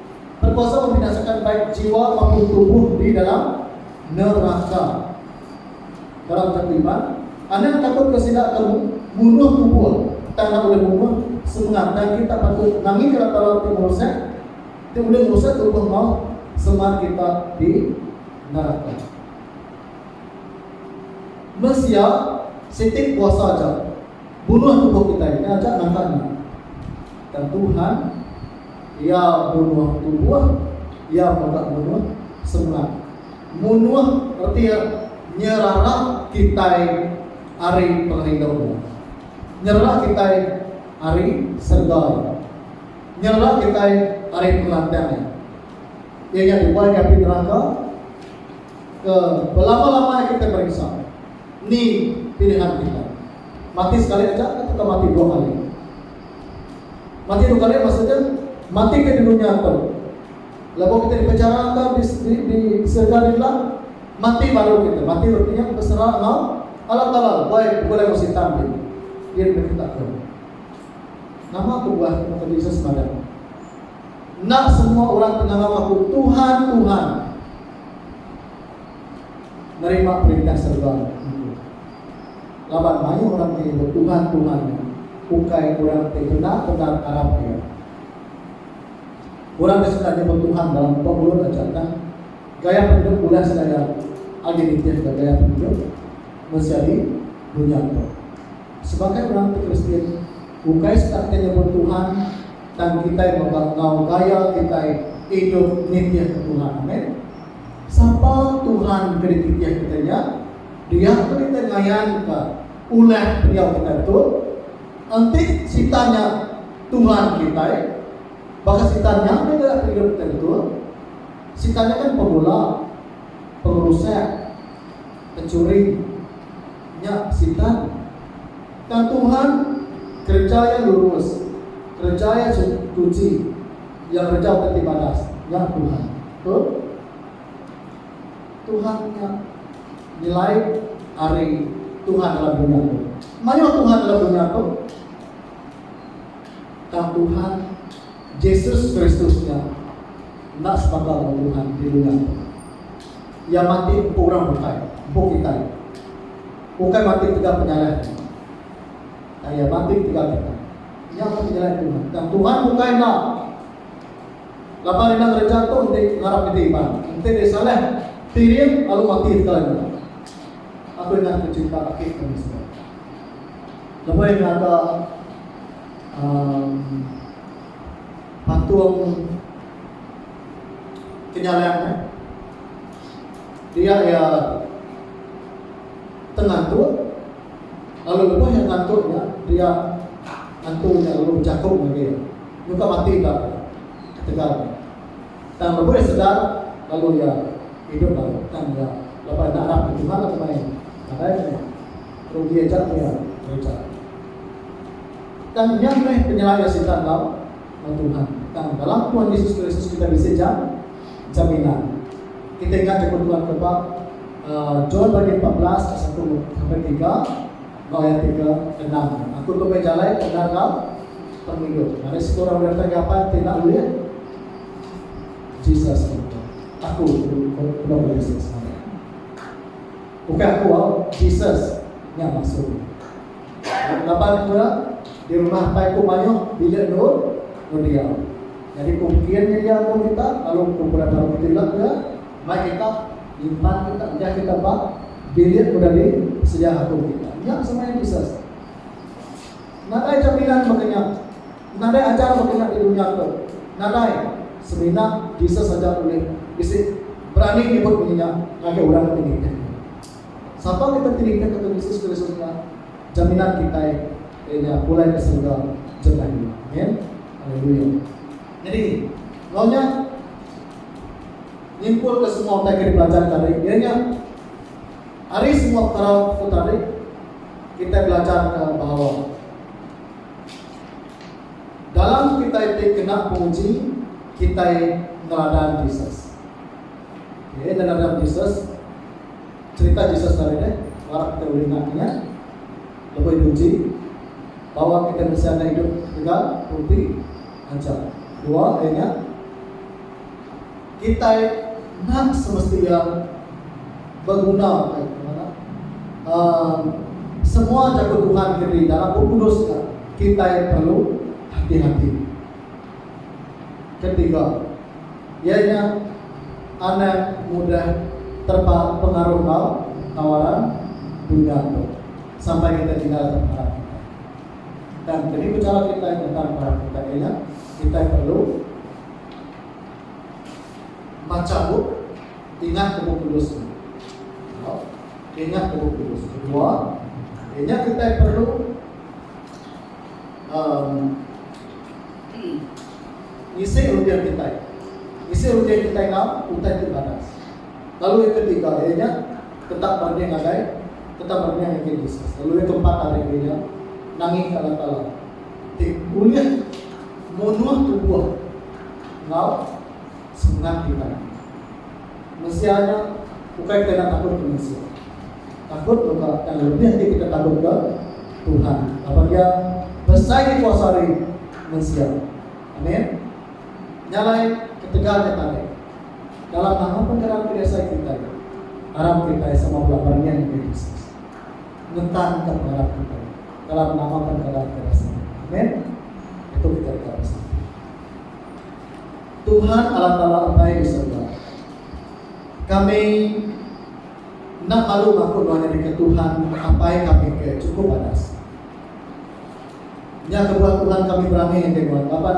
Berkuasa membinasakan baik jiwa maupun tubuh di dalam neraka. Dalam jaku Iban, anang takut ke sida ke munuh tubuh tang enda ulih munuh semengat dan kita patut nangika latar laut ti ngerusak ti ulih ngerusak tubuh enggau semengat kita di neraka. Mensia siti kuasa aja bunuh tubuh kitai nya aja nangka nya. Tang Tuhan Iya munuh tubuh, iya mega munuh semak. Munuh reti iya nyerara kitai ari pengerindu Iya. Nyerara kitai ari serega Iya. Nyerara kitai ari pengelanting Iya. Iya nya dibuai ngapi neraka ke belama-lama iya kitai merinsa ni pilihan kitai, mati sekali aja atauka mati dua kali. Mati tu kali maksud dia mati ke di dunya tu. Lebuh kita dipenjara enggau di di, di serga di ila, mati baru kita. Mati reti nya besera enggau Allah Taala buai begulai enggau sitan ti. Dia diberi kita ke. Nama kebuah tu kata Jesus madah. Enda semua orang ke ngangau aku Tuhan, Tuhan nerima perintah serga. laban mayuh orang ti betuhan-tuhan nya ukai orang ti bendar-bendar arap Iya. Orang ke sida nyebut tuhan dalam pemulut aja nya, gaya pengidup ulah segaya agi nitihka gaya pengidup mensia di dunya tu. Sebagai orang ti Kristian, ukai sida ti nyebut tuhan, tang kitai mega enggau gaya kitai idup nitihka tuhan. Amen. Sapa tuhan ke dititih kitai nya? Dia pun kita ngayanka ulah pendiau kitai tu, enti Sitan nya tuhan kitai, baka Sitan nya meh deka pengidup kitai betul. Sitan nya kan pemula, pengerusak, pencuri. Nya Sitan. Tang Tuhan kereja iya lurus, kereja iya suci, iya kereja udah ti badas. Nya Tuhan. Betul? Tuhan nya nyelai ari Tuhan dalam dunya tu. Mayuh Tuhan dalam dunya tu, tang Tuhan Jesus Kristus nya enda sebaka lawan Tuhan di dunya tu. Iya mati empu orang bukai, empu kitai. Bukai mati tegal penyalah nya. Tang iya mati tegal kitai. Nya tu nyelai Tuhan. Tang Tuhan bukai enda. Laban enda ngereja tu enti ngarap nyadi iban. Enti deh salah tiring lalu mati sekali meda. Aku ingat aku cinta aki ku Mister. Lemai ngaga um patung kenyalang eh. Dia iya te ngantuk lalu lebuh iya ngantuk nya dia ngantu nya lalu bejaku ngagai iya. Nyuka mati enda ketegal nya. Tang lebuh iya sedar lalu iya idup baru tang iya laban enda arap ke Tuhan lalu mai nadai ke nya. Rugi aja ku iya gereja. Tang nya meh penyelai iya sitan enggau enggau Tuhan. Tang dalam Tuhan Yesus Kristus kitai bisi ja jaminan. Kitai ingat jaku Tuhan ke ba John pagi empat belas ayat satu sampai tiga. Ba ayat tiga, endang nya, Aku tu meh jalai, endar enggau pengidup. Ngagai siku orang meda penagai apai ti enda ulih Jesus nyentuk. Aku, penuh ba Jesus ngagai aku. Ukai aku au, Jesus nya maksud nya. Laban aku meda di rumah apai ku mayuh bilik endur ngebiau. Nyadi ku mkin nya iya aku minta lalu ku pulai baru betulak iya. Mai kita nyimpan kita nyah kita ba bilik udah di sedia akum kita. Nya semaya Jesus. Nadai jaminan baka nya. Nadai ajar baka nya di dunya tu. Nadai. Semina Jesus aja ulih bisi berani nyebut munyi nya ngagai orang ti nitih Iya. Sapa kita ti nitihka Tuan Jesus Kristus nya jaminan kitai iya nya pulai ka serega jemah iya. Amen. Haleluya. Nyadi, enggau nya. Nyimpulka semua utai ke dipelajar tadi iya nya ari semua perkara tu tadi kitai belajarka bahawa dalam kitai ti kena penguji kitai neladan Jesus. Okey, neladan Jesus cerita Jesus tadi deh harap kita boleh ingat nya lebuh diuji bahawa kita mesti ada hidup tegal roti aja. Dua ari nya kitai enda semesti iya beguna kai ku ngaga uhh semua jaku Tuhan ke di dalam Bup Kudus nya kitai perlu hati-hati. Ketiga iya nya anak mudah terpa pengaruh enggau tawaran dunya tu sampai kitai tinggal pengarap kitai. Dan keni pechara kitai tentang perang kitai ke nya? Kitai perlu macha bup, ingat ke Bup Kudus nya. Tau? Ingat ke Bup Kudus. Kedua, ke nya kitai perlu um, ngisi rutin kitai. Ngisi rutin kitai ngau utai ti badas. Lalu iya ke tiga iya nya tetap berunding agai tetap berunding ngagai Jesus. Lalu iya ke empat ari iya nya nangih kala kala ti ulih munuh tubuh enggau semengat kitai. Mensia nya ukai kitai enda takut ke mensia. Takut mega yang lebih ti kitai takut ke Tuhan laban iya besai dikuasa ari mensia. Amen. Nya alai ketegal nya tadi. Dalam nama penderang ke diasai kitai, arap kitai sama bela bania ngagai Jesus. Ngetangka pengarap kitai dalam nama penderang ke diasai kitai. Amen. Ditu kitai deka bersatu. Tuhan Allah Taala Apai di serega. Kami enda malu ngaku nuan nyadika Tuhan Apai kami ke chukup padas. Nya kebuah Tuhan kami berani ngagai nuan laban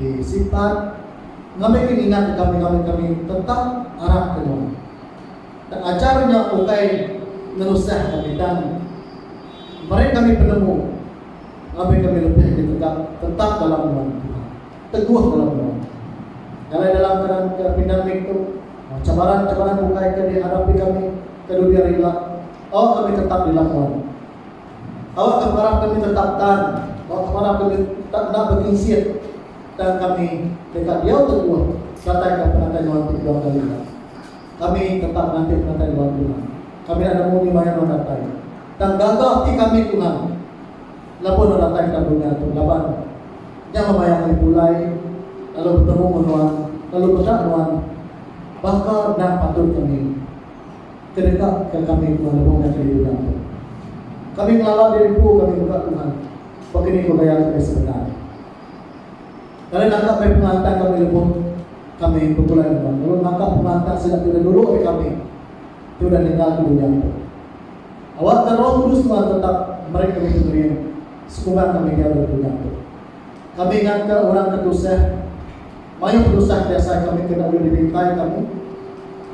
Di Sitar, ngambika ninga deka mengaul kami tetap arap ke nuan. Tang ajar nya ukai ngerusah kami tang. Meri kami penemu ngabi kami lebih agi tegap tetap dalam nuan, Tuhan. Teguh dalam nuan, Tuhan. Jalai dalam keadaan ke pindamik tu, enggau cabaran-cabaran bukai ke dihadapi kami ke dudi ari ila, au kami tetap dilam nuan. Awak ke parap kami tetap tan, awak ke parap kami tak enda bekinsit tang kami deka diau teguh serataika penatai nuan tu dua kali ila. Kami tetap nganti penatai nuan Tuhan. Kami enda nemu ni maya nuan datai. Tang gaga ati kami Tuhan laban nuan datai kedalam dunya tu laban nya memayang ari pulai lalu betemu ngen nuan lalu meda nuan baka endang patut kami. Ke deka ke kami Tuhan lebuh meda ke diduga tu. Kami ngelala diri empu kami mega Tuhan pagi ni ko gaya kami sebedau. Lalu naka meh pengelantang kami lebuh kami begulai ngemban lalu naka pengelantang sida ti udah dulu ari kami ti udah ninggal ke dunya tu. Awakka Roh Kudus Tuhan tetap meri kami pengering sekumba kami diau dalam dunya tu. Kami ngatka orang ke tusah. Mayuh penusah ti asai kami kena ulih dibintai kami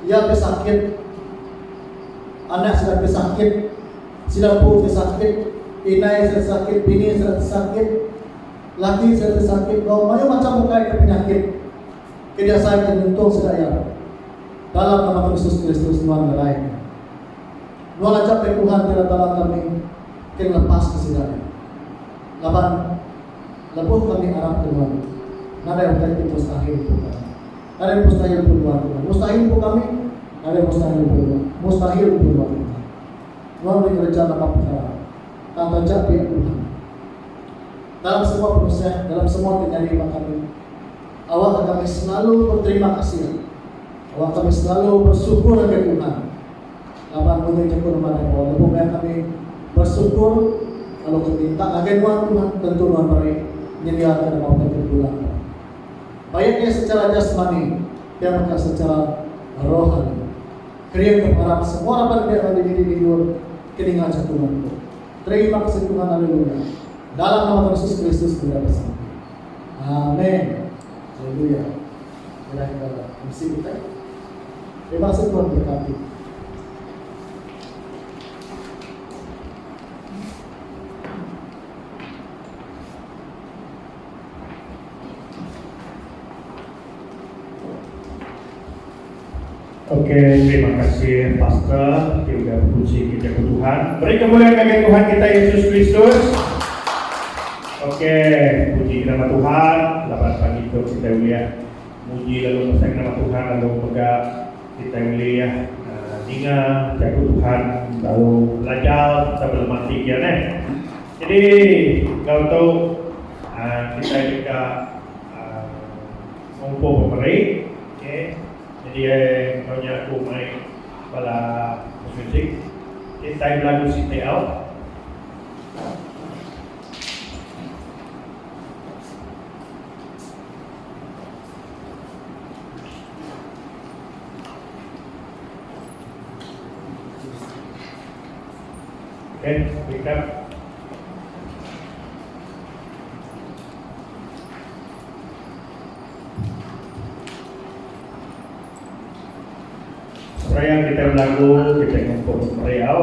iya ke sakit, anak sida ke sakit, sida empu ke sakit, indai sida sakit, bini sida ti sakit, laki sida ti sakit enggau mayuh macham ukai ke penyakit ke diasai ke nyentuh sida iya. Dalam nama Tuhan Yesus Kristus nuan ngerai nya. Nuan aja meh Tuhan ti enda tala kami ke ngelepaska sida iya. Laban, lebuh kami arap ke nuan, nadai utai ti mustahil empu kami. Nadai mustahil empu nuan tuan. Mustahil empu kami, nadai mustahil empu nuan. Mustahil empu nuan tuan. Nuan ulih ngereja napa pekara, tang taja pia Tuhan. Dalam semua penusah, dalam semua ti nyadi ba kami, awakka kami selalu beterima kasih. Awakka kami selalu bersyukur ngagai Tuhan. Laban munyi nyekul nuan ai Paul lebuh maya kami bersyukur lalu kami minta ngagai nuan Tuhan tentu nuan meri nyediaka deka utai kami bela nuan. Baik iya secara jasmani pia mega secara rohani. Kering ke pengarap semua raban mih randi diri didur ke ninga jaku nuan tu. Terima kasih Tuhan haleluya. Dalam nama Tuhan Yesus Kristus meda besampi. Amen. Haleluya. Alai ba MC kitai. Terima kasih Tuhan berkati. Ok terima kasih pastor ti udah bekunsi kita ku Tuhan. Beri kemuliaan ngagai Tuhan kita Yesus Kristus. Ok puji nama Tuhan laban pagi tu kita ulih muji lalu mesai nama Tuhan lalu mega kita ulih uh, ninga jaku Tuhan lalu belajar sambil mati dia ne. Jadi kalau tu uh, kita juga uh, ngumpul pemeri. Okay. Nyadi ai enggau nya aku mai bala music ti tai belagu siti au. Okey speaker. Seraya kitai belagu, kitai ngempu meriau.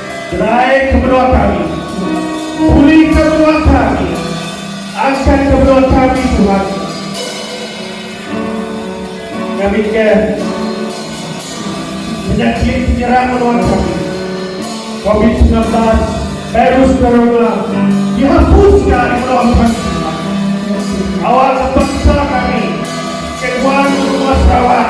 Kerai ke menua kami. Buli ke menua kami. Anchan ke menua kami Tuhan. Ngambika penyakit penyerang menua kami. Covid semilan belas Virus Corona dihapuska ari menua kami Tuhan. Awakka bangsa kami ke nuan menua Sarawak.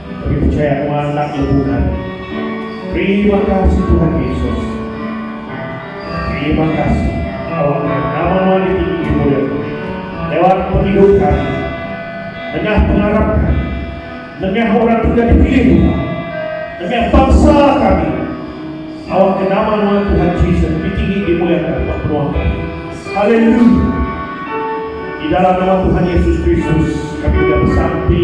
Kami pechaya nuan enda lebuhan. Terima kasih Tuhan Yesus. Terima kasih awak nuan nama nuan ditinggi dimulyakan lewat pengidup kami nengah pengarap kami nengah orang ke udah dipilih Tuhan nengah bangsa kami awak ke nama nuan Tuhan Jesus ditinggi dimulyakan buat penuah kami haleluya di dalam nama Tuhan Yesus Kristus kami udah besampi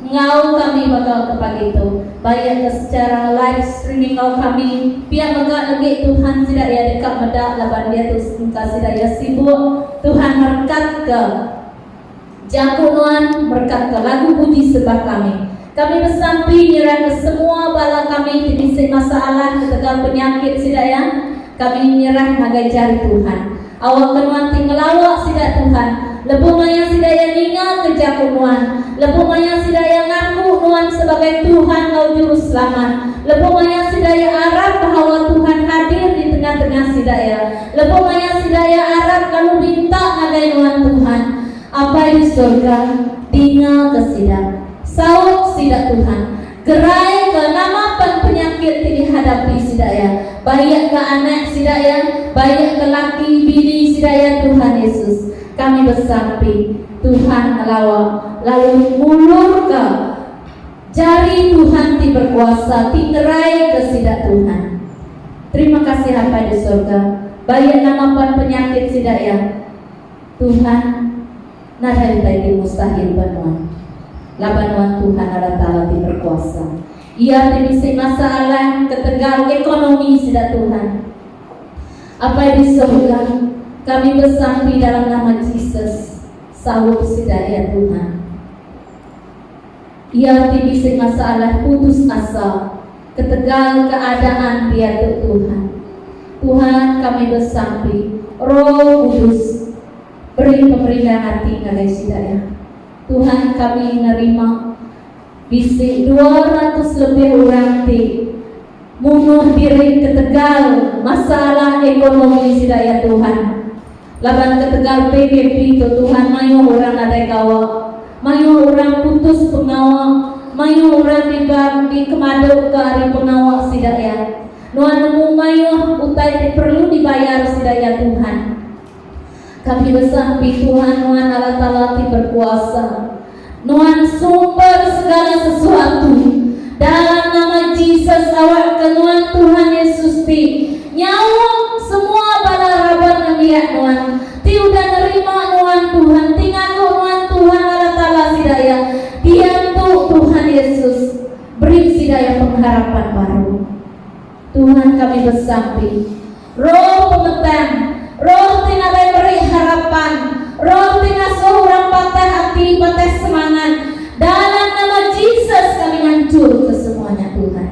Enggau kami mega kepa ditu, baik ke secara live streaming enggau kami, pia mega legi Tuhan sida iya deka meda laban diatu engka sida iya sibuk, Tuhan merekatka jaku nuan, merekatka lagu puji sembah kami. Kami besampi nyerahka semua bala kami ti bisi masalah ketegal penyakit sida iya, kami nyerah ngagai jari Tuhan. Awak ke nuan ti ngelawa sida Tuhan, lebuh maya sida iya ningaka jaku nuan, lebuh maya sida iya ngaku nuan sebagai Tuhan enggau Juruselamat, lebuh maya sida iya arap bahawa Tuhan hadir di tengah-tengah sida iya, lebuh maya sida iya arap lalu minta ngagai nuan Tuhan, Apai di sorga, dingaka sida. Saut sida Tuhan. Gerai ke nama pen penyakit ti dihadapi sida iya, baik ke anak sida iya, baik ke laki bini sida iya Tuhan Yesus. Kami besampi Tuhan ngelawa lalu ngulurka jari Tuhan ti berkuasa ti ngeraika sida Tuhan. Terima kasih Apai di Sorga, baik nama pen penyakit sida iya Tuhan. nadai utai ti mustahil ba nuan, laban nuan Tuhan Allah Taala ti berkuasa. Iya ti bisi masalah ketegal ekonomi sida Tuhan. Apai di sorga, kami besampi dalam nama Jesus, saut sida iya Tuhan. Iya ti bisi masalah putus asa ketegal keadaan dia tu Tuhan. Tuhan kami besampi, Roh Kudus Beri pemerian ati ngagai sida nya. Tuhan kami nerima bisi dua ratus lebih orang ti munuh diri ketegal masalah ekonomi sida ya Tuhan. Laban ketegal PKP tu Tuhan mayuh orang nadai gawa, mayuh orang putus pengawa, mayuh orang diba dikemaduka ari pengawa sida ya. Nuan nemu mayuh utai ti perlu dibayar sida ya Tuhan. Kami besampi Tuhan nuan Allah Taala ti berkuasa. Nuan sumber segala sesuatu. Dalam nama Jesus awak ke nuan Tuhan Yesus ti nyaum semua bala raban nembiak nuan ti udah nerima nuan Tuhan ti ngaku nuan Tuhan Allah Taala sida iya diantu Tuhan Yesus beri sida iya pengharapan baru. Tuhan kami besampi. Roh pengetang, Roh ti nadai meri harapan, Roh ti ngasuh orang patah ati, patah semangat, dalam nama Jesus kami nganchurka semua nya Tuhan.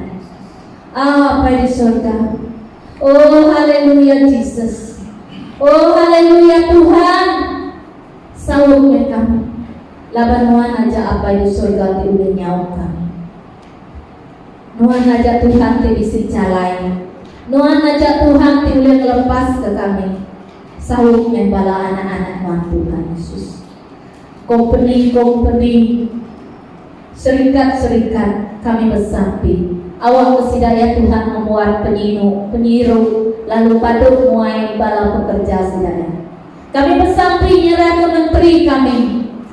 Apai di sorga. Oh haleluya Jesus. Oh haleluya Tuhan. Saut meh kami. Laban nuan aja Apai di sorga ti ulih nyaut kami. Nuan aja Tuhan ti bisi jalai. Nuan aja Tuhan ti ulih ngelepaska kami, saup meh bala anak-anak nuan Tuhan Yesus. Kompeni-kompeni, serikat-serikat kami besampi awakka sida ya Tuhan ngembuan penyinu, penyiru lalu padu muai bala pekerja sida ya. Kami besampi nyerahka menteri kami.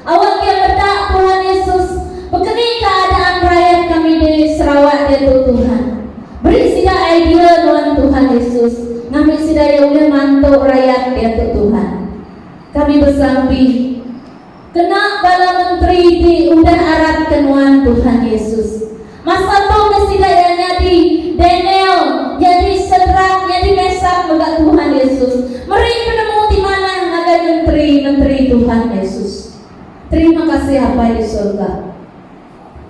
Awak kia pedak Tuhan Yesus bekeni keadaan rayat kami di Sarawak diatu Tuhan beri sida idea nuan Tuhan Yesus ngambi sida ia ulih mantu rayat diatu Tuhan. Kami besampi kena bala menteri ti udah arap ke nuan Tuhan Yesus. Masa tu ke sida iya nyadi Daniel, nyadi Sedrak, nyadi Mesak mega Tuhan Yesus meri penemu ti manah ngagai menteri-menteri Tuhan Yesus. Terima kasih Apai di sorga.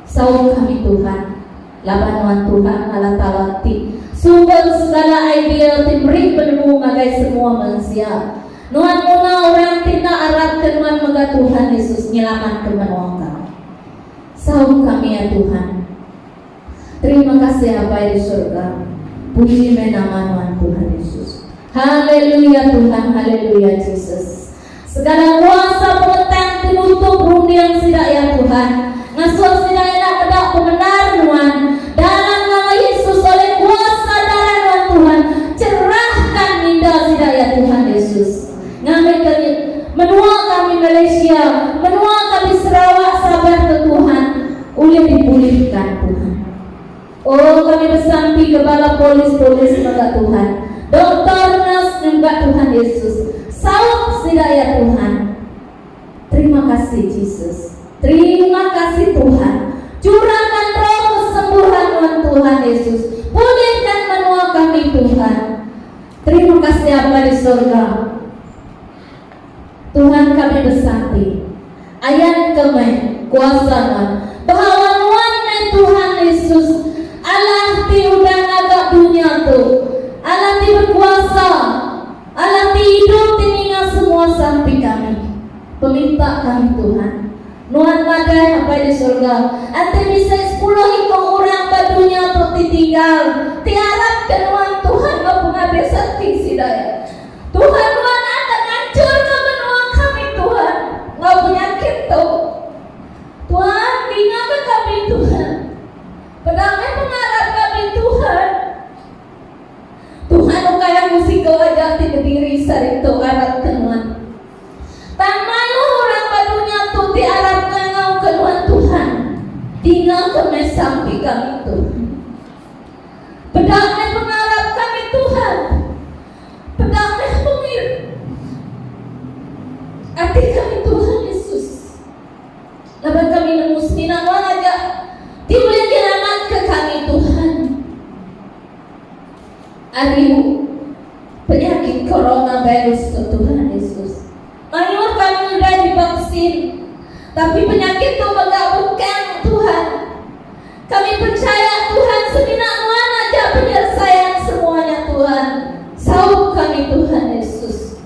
Saum kami Tuhan, laban nuan Tuhan Allah Taala ti sumber segala idea ti meri penemu ngagai semua mensia. Nuan nguna orang ti enda arap ke nuan mega Tuhan Yesus nyelamatka menua kami. Saum kami ya Tuhan. Terima kasih Apai di surga. Puji meh nama nuan Tuhan Yesus. Haleluya Tuhan, haleluya Jesus. Segala kuasa pengetang ti nutup runding sida ya Tuhan. Ngasuh sida enda meda pemendar nuan. Dalam nama Yesus oleh kuasa darah nuan Tuhan, cerahkan minda sida ya Tuhan Yesus. Ngambi ke ni, menua kami Malaysia, menua kami Sarawak saban ke Tuhan ulih dipulihka Tuhan. Oh kami besampi ke bala polis-polis mega Tuhan, doktor, nurse nyembah Tuhan Yesus. Saup sida ya Tuhan. Terima kasih Jesus. Terima kasih Tuhan. Curahkan roh kesembuhan nuan Tuhan Yesus. Pulihkan menua kami Tuhan. Terima kasih Aba di sorga. Tuhan kami besar ti. Ayan ke meh kuasa nuan. Behawa nuan meh Tuhan Yesus. Allah ti udah ngaga dunya tu. Allah ti berkuasa. Allah ti idup ti ninga semua sampi kami. Peminta kami Tuhan. Nuan madah Apai di surga, ati bisi sepuluh iko orang ba dunya tu ti tinggal, ti arap ke Nuan Tuhan enggau pengabis ati sida iya. Tuhan Nuan akan nganchurka menua kami Tuhan enggau penyakit tu. Tuhan, dingaka kami Tuhan. Peda meh pengarap kami Tuhan. Tuhan ukai aku siko aja ti bediri saritu arap ke Nuan. Tang malu orang ba dunya tu ti arap ngangauka nuan Tuhan, dingaka meh sampi kami Tuhan. Peda meh pengarap kami Tuhan, peda meh pengir ati kami Tuhan Yesus. Laban kami nemu semina nuan aja ti ulih nyelamatka kami Tuhan. Adiu, penyakit coronavirus tu Tuhan Yesus mayuh tang udah divaksin, tapi penyakit tu mega bengkang Tuhan. Kami percaya Tuhan semina nuan aja penyelesaian semua nya Tuhan. Saup kami Tuhan Yesus.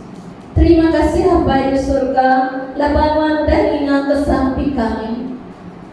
Terima kasih Apai di surga laban nuan udah ninga ke sampi kami.